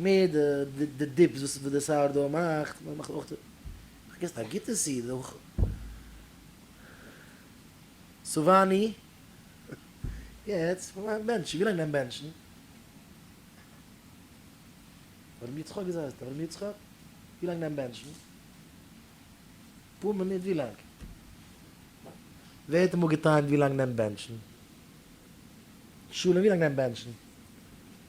מער די דיפס וואס די סאוער דאו מאכט, מען מאכט אויך די, פארגעסט א גוטע סיד אויך, סאוואני, יעצט מיין בענטשן, ווי לאנג מיין בענטשן? אברהם יצחק וויאזוי הייסט אברהם יצחק? ווי לאנג מיין בענטשן? אפאר מינוט ווי לאנג? ווער האט אמאל געטענה'ט ווי לאנג מיין בענטשן? שלום ווי לאנג מיין בענטשן?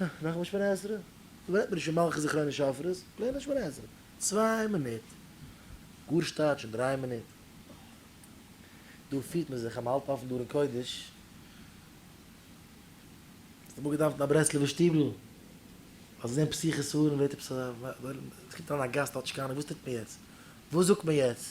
ה, נאך א שמונה עשרה? לערנט מען נישט אין מלכות זכרונות שופרות, לערנט א שמונה עשרה. צוויי מינוט, גאר שטייט שוין דריי מינוט. דא פירט מען זיך אז מען האלט אפן דא ארון קודש. ס'האט אמאל געדאוונט אין א ברסלב'ער שטיבל, אז עס זענען פסח'ס הארן ווערט עפעס א, עס קומט אריין א גאסט אלטשקאנער, וואס טוט מען יעצט? וואס זאגט מען יעצט?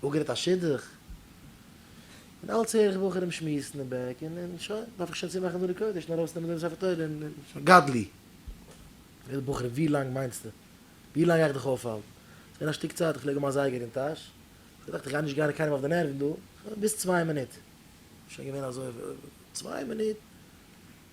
אפגערעדט א שידוך, און אלץ הער איך בחורים שמועסן אין בעק, און און שוין, דארף איך שוין צומאכן דא די קודש און ארויסנעמען דעם ספר תורה און און שוין גדלי'. פרעגט די בחור ווי לאנג מיינסטו? ווי לאנג גיי איך דיך אויפהאלטן? ס'איז געווען א שטיק צייט, כ'פלעג האבן א זייגער אין טאש, כ'האב געדאכט כ'גיי נישט גיין קיינעם אויף די נערוון דא, שוין ביז צוויי מינוט, שוין געווען אזוי צוויי מינוט,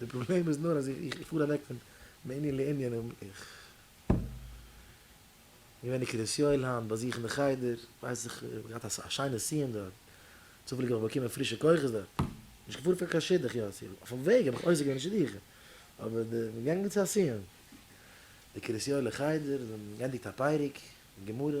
די פראבלעם איז נאר אז איך פאר אוועק פון מענין לענין און איך געווען אין קרית יואל היינט באזוכן די חדר, ווייס איך געהאט א שיינע סיום דארט, צופעליג האב איך באקומען פרישע כוחות דארט, נישט געפארן פאר קיין שידוך יאסי, אויפן וועג האב איך עוסק געווען אין שידוכים, אבער די געגאנגען צו א סיום, די קרית יואל'ע חדר האט גענדיגט א פרק גמרא.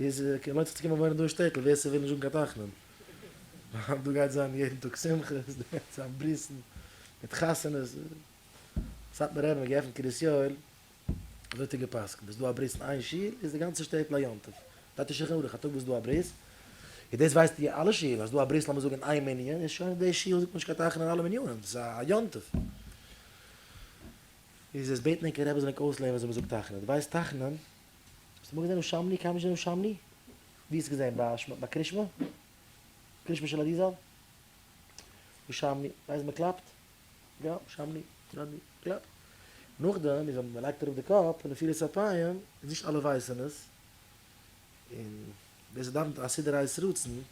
איז קיין מוצ ש צו קומען וואוינען דא אין שטעטל, ווער ס'וויל נישט זאגן קיין תחנון. ווייל דא גייט זיין יעדן טאג שמחות, דא גייט זיין ברית'ן, מיט חתונות. סאטמאר רב האט געעפנט קרית יואל, אזוי האט ער גע'פסק'נט, איז דא א ברית אין איין שול, איז די גאנצע שטעטל א יום טוב. דארף נישט שולחן ערוך, א טאג וואס איז דא א ברית, איז דאס ווייסט אין אלע שולן, אז איז דא א ברית לאמיר זאגן אין איין מנין, איז שוין די שול זאגט מען נישט קיין תחנון אין אלע מנינים, דאס איז א יום טוב. איז עס בעטן ענקער רבי זאל ענק אויסלערנען ווי אזוי מ'זאגט תחנון. דו ווייסט תחנון? האסט אמאל געזען הושמני? קיינמאל נישט געזען הושמני? ווי האסט געזען? ביי שמ ביי קרישמע? קרישמע של אריזל? הושמני ווייסט מען קלאפט? יא הושמני הושמני קלאפ. נאכדעם איז ווען מ'לייגט אראפ די קאפ און נפילת אפיים איז נישט אלע ווייסען עס, און ווער ס'דאוונט א סידור ה'איז רצון,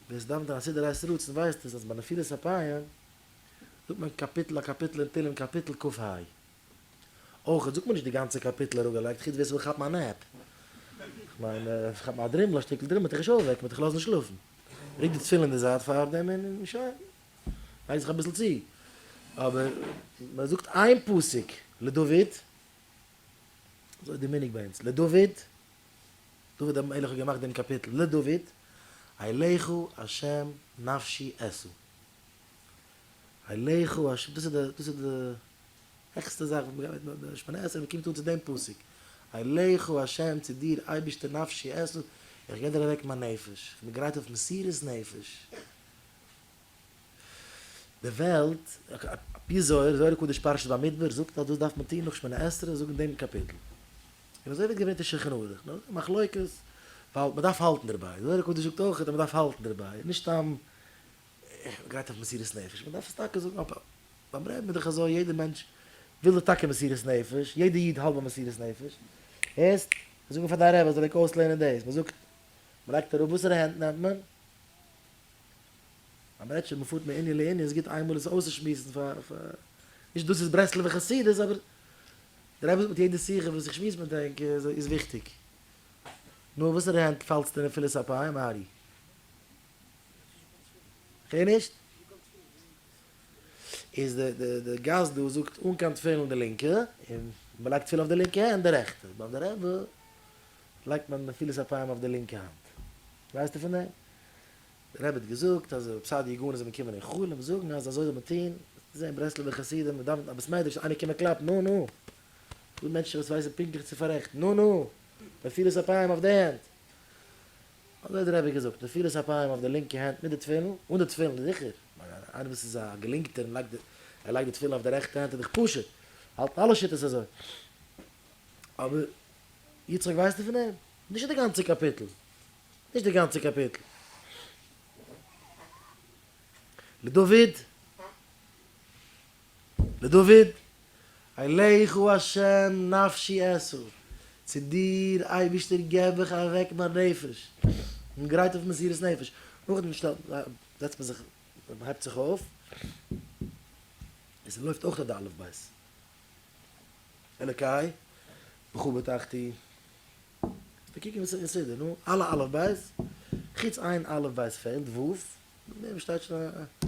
ווער ס'דאוונט א סידור ה'איז רצון ווייסט עס אז ביי נפילת אפיים זאגט מען קאפיטל א קאפיטל אין תהלים קאפיטל קכ ה. אויך זאגט מען נישט די גאנצע קאפיטל אראפגעלייגט חוץ ווער ס'וויל כאפן א נעפ. כ'מיין כאפן א דרימל א שטיקל דרימל וועט דיך נישט אויפוועקן וועט דיך לאזן שלאפן. רוק די תפילין אין די זייט פארדעם און שוין. לייג זיך אביסל צו. אבער מ'זאגט איין פסוק לדוד. אזוי איז די מנהג ביי אונז לדוד. דוד המלך האט געמאכט דעם קאפיטל לדוד. אליך ה' נפשי אשא. הילכו הש דאס איז דאס איז די העכסטע זאך וואס מ'גייט מיט די שמונה עשרה מ'קומט אן צו דעם פסוק הילכו הש צו דיר אייבערשטער נפשי עשו איך גיב דיר אוועק מיין נפש איך בין גרייט אויף מסירות נפש די וועלט ע פ זוהר זוהר הקדוש פרשת במדבר זאגט אז דאס דארף מען טון נאך שמונה עשרה זאגן דעם קאפיטל און אזוי ווערט געברענגט אין שלחן ערוך נאר די מחלוקת ווייל מ'דארף האלטן דערביי זוהר הקדוש זאגט אויך אז מ'דארף האלטן דערביי נישט סתם איך גייט אויף מסירות נפש, מען דארף עס טאקע זאגן, אבער ביים רעבן איז דאך אזוי, יעדער מענטש וויל דאך טאקע מסירות נפש, יעדער איד האלט ביי מסירות נפש, הערסט? זאג אים פאר דיין רבי ער זאל ענק אויסלערנען דאס, מען זאגט, מען לייגט אראפ, וואסערע הענט נעמט מען? אז מען רעדט שוין, מען פארט מענין לענין, איז גוט איין מאל עס אויסצושמועסן פאר פאר, נישט דאס איז ברסלב'ע חסידות, אבער דער רבי זאגט מיט יעדע שיחה וואס איך שמועס מיט ענק איז וויכטיג, נו, וואסערע הענט פאלסטו אין נפילת אפיים, ארי? הער נישט? איז די די די גאס דא זאגט אן קיין תפילין די לינקע, און מען לייגט תפילין אויף די לינקע הענט די רעכטע, ביים די רעבע לייגט מען נפילת אפיים אויף די לינקע האנט, ווייסטו פון דעם? די רבי האט געזאגט אז אויב סאדע יגונות זאל מען קומען אין חלום און זאגן אז אזוי זאל מען טון, וועסטו זען ברסלב'ע חסידים מען דאווענט א בית מדרש איינער קומען קלאפן נו נו, ס'דא מענטשן וואס ווייסן פונקטליך צו פארעכטן נו נו, נפילת אפיים אויף די הענט. אזוי האט דער רבי געזאגט, נפילת אפיים אויף די לינקע הענט מיט די תפילין, אן די תפילין זיכער, איינער וואס איז א געלינקטער און לייגט ער לייגט די תפילין אויף די רעכטע הענט איז דאך פשוט, האלטן אלע שיטות אזוי. אבער יצחק ווייסטו פון דעם? נישט די גאנצע קאפיטל, נישט די גאנצע קאפיטל. לדוד. לדוד, אליך הוא השם נפשי אשא, צו דיר אייבערשטער געב איך אוועק מיין נפש, און גרייט אויף מסירת נפש, נאכדעם זעצט מען זיך, מען הייבט זיך אויף, עס לויפט אויך די אלף בית, אלוקיי בכה בטחתי, דאס קוקן וואס איז כסדר, נו, אלע אלף בית, חוץ איין אלף בית פעלט, ו', מער שטייט שוין א.